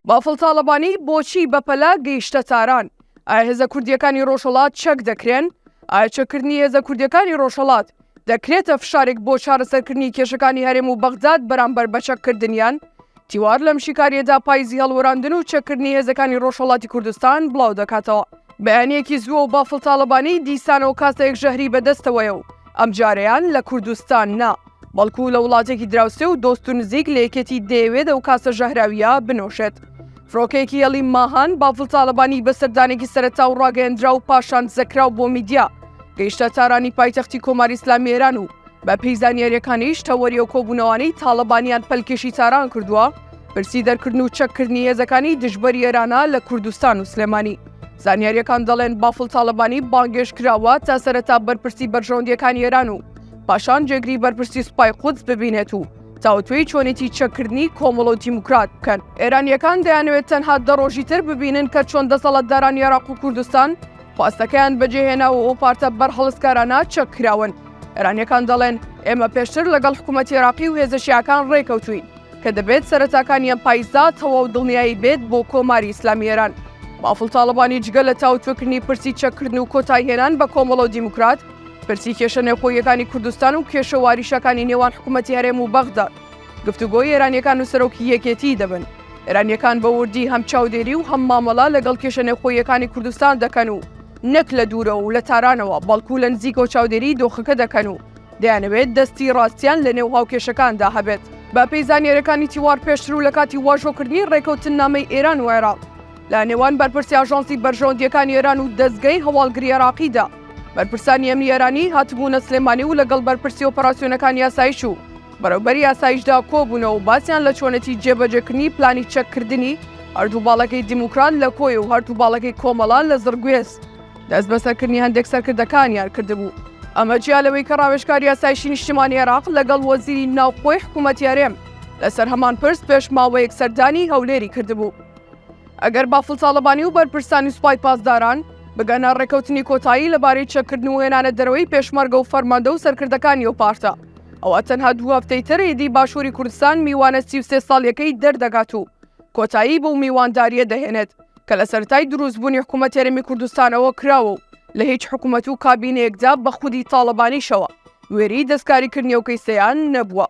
بافڵ تاڵەبانی بۆچی بەپەلە گەیشتە تاران؟ ئایا هێزە کوردیەکانی ڕۆژهەڵات چەک دەکرێن؟ ئایا چەککردنی هێزە کوردیەکانی ڕۆژهەڵات دەکرێتە فشارێک بۆ چارەسەرکردنی کێشەکانی هەرێم و بەغداد بەرامبەر بە چەککردنیان؟ تیوار لەم شیکاریەدا پایزی هەڵوەراندن و چەکردنی هێزەکانی ڕۆژهەڵاتی کوردستان بڵاو دەکاتەوە بەیانیەکی زووە و بافڵ تاڵەبانی دیسانەوە کاسەیەک ژەهری بەدەستەوەیە و ئەم جارەیان لە کوردستان نا بەڵکو لە وڵاتێکی دراوسێ و دۆست و نزیک لە یەکێتی دەیەوێت ئەو کاسە ژەهراویە بنۆشێت فرۆکەیەکی هێڵی ماهان بافڵ تاڵەبانی بە سەردانێکی سەرەتا و ڕاگەیەندرا و پاشان زەکراو بۆ میدیا گەیشتە تارانی پایتەختی کۆماری ئسلامی ئێران و بە پێی زانیاریەکانیش تەوەری و کۆبوونەوانەی تاڵەبانیان پەلکێشی تاران کردووە پرسی دەرکردن و چەککردنی هێزەکانی دژبەر یێرانە لە کوردستان و سلێمانی زانیاریەکان دەڵێن بافڵ تاالبانی بانگێش کراوە تا سەرەتا بەرپرسی بەرژەوندەکان یێران و پاشان جێگری بەرپرسی سوپای قودس ببینێت و تاوتوێی چۆنێتی چەککردنی کۆمەڵ و دیموکرات بکەن ئێرانیەکان دەیانوێت تەنها دە ڕۆژی تر ببینن کە چۆن دەسەڵاتداران یێراق و کوردستان خواستەکەیان بەجێهێنا و ئەو پارتە بەرهەڵستکارانە چەککراون ئێرانیەکان دەڵێن ئێمە پێشتر لەگەڵ حکوومەتی عێراقی و هێزە شیعەکان ڕێکەوتوین کە دەبێت سەرەتاکانی ئەم پایزدا تەواو دڵنیایی بێت بۆ کۆماری ئیسلامی ئێران. بافڵ تاڵەبانی جگە لە تاوتوێکردنی پرسی چەککردن و کۆتایهێنان بە کۆمەڵە و دیموکرات، پرسی کێشە نێوخۆییەکانی کوردستان و کێشە واریشەکانی نێوان حکوومەتی هەرێم و بەغدا، گفتوگۆی ئێرانیەکان و سەرۆکی یەکێتیی دەبن. ئێرانیەکان بە وردی هەم چاودێری و هەم مامەڵە لەگەڵ کێشە نێوخۆییەکانی کوردستان دەکەن و، نەک لە دوورەوە و لە تارانەوە، بەڵکو لە نزیکەوە چاودێریی دۆخەکە دەکەن و دەیانەوێت دەستی ڕاستیان لەنێو هاوکێشەکاندا هەبێت. بەپێی زانیارییەکانی تیوار، پێشتر و لە کاتی واژۆکردنی ڕێککەوتننامەی ئێران و عێراق لە نێوان بەرپرسی ئاژانسی بەرژەوەندییەکانی ئێران و دەزگەی هەواڵگری عێراقیدا، بەرپرسانی ئەمنی ئێرانی هاتبوونە سلێمانی و لەگەڵ بەرپرسی ئۆپەراسیۆنەکانی ئاسایش و بەڕێوبەری ئاسایشدا کۆبوونەوە و باسیان لە چۆنێتی جێبەجێکردنی پلانی چەککردنی هەردوو باڵەکەی دیموکرات لە کۆیە و هەردوو باڵەکەی کۆمەڵە لە زڕگوێز دەستبەسەرکردنی هەندێک سەرکردەکانیان کردبوو. ئەمە جیا لەوەی کە ڕاوێژکاری ئاسایشی نیشتیمانی عێراق لەگەڵ وەزیری ناوخۆی حکوومەتی هەرێم لەسەر هەمان پرس پێش ماوەیەک سەردانی هەولێری کردبوو. ئەگەر بافڵ تاڵەبانی و بەرپرسانی سوپای پاسداران بگەنە ڕێککەوتنی کۆتایی لەبارەی چەککردن و هێنانە دەرەوەی پێشمەرگە و فەرماندە و سەرکردەکانی ئەو پارتە، ئەوە تەنها دوو هەفتەی تری دی باشووری کوردستان میوانە سی و سێ ساڵیەکەی دەردەگات و کۆتایی بەو میوانداریە دەهێنێت کە لە سەرتای دروستبوونی حکوومەت تێرەمی کوردستانەوە کراوە و لە هیچ حکوومەت و کابینەیەکدا بە خودی تاڵەبانیشەوە وێری دەستکاریکردنی و کەیسەیان نەبووە.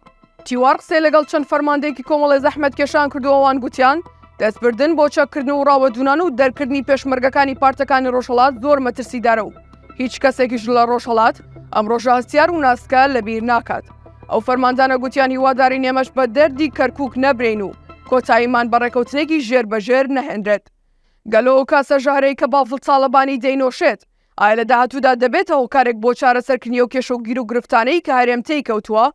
تیوار قسەی لەگەڵ چەند فەرماندەیەکی کۆمەڵی زەحمەت کێشان کردووەوان گوتیان دەستبردن بۆ چەککردن و ڕاوەدوونان و دەرکردنی پێشمەرگەکانی پارتەکانی ڕۆژهەڵات زۆر مەترسیدارە و هیچ کەسێکیش لە ڕۆژهڵات ئەم ڕۆژە هەستیار و ناسکە لە بیر ناکات ئەو فەرماندانە گوتیان هیواداری نێمەش بە دەردی کەرکک نەبرین و کۆتاییمان بە ڕێکەوتنێکی ژێر بەژێر نەهێنرێت گەلۆ و کاسە ژەهرەی کە بافڵ تاالبانی دەینۆشێت ئایا لە داهاتوودا دەبێتە هۆکارێک بۆ چارەسەرکردنی و کێشە و گیر و گرفتانەی کە هەرێم تێی کەوتووە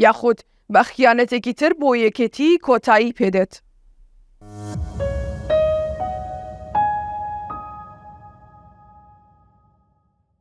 یاخود بە خیانەتێکی تر بۆ یەکێتی کۆتایی پێدێت.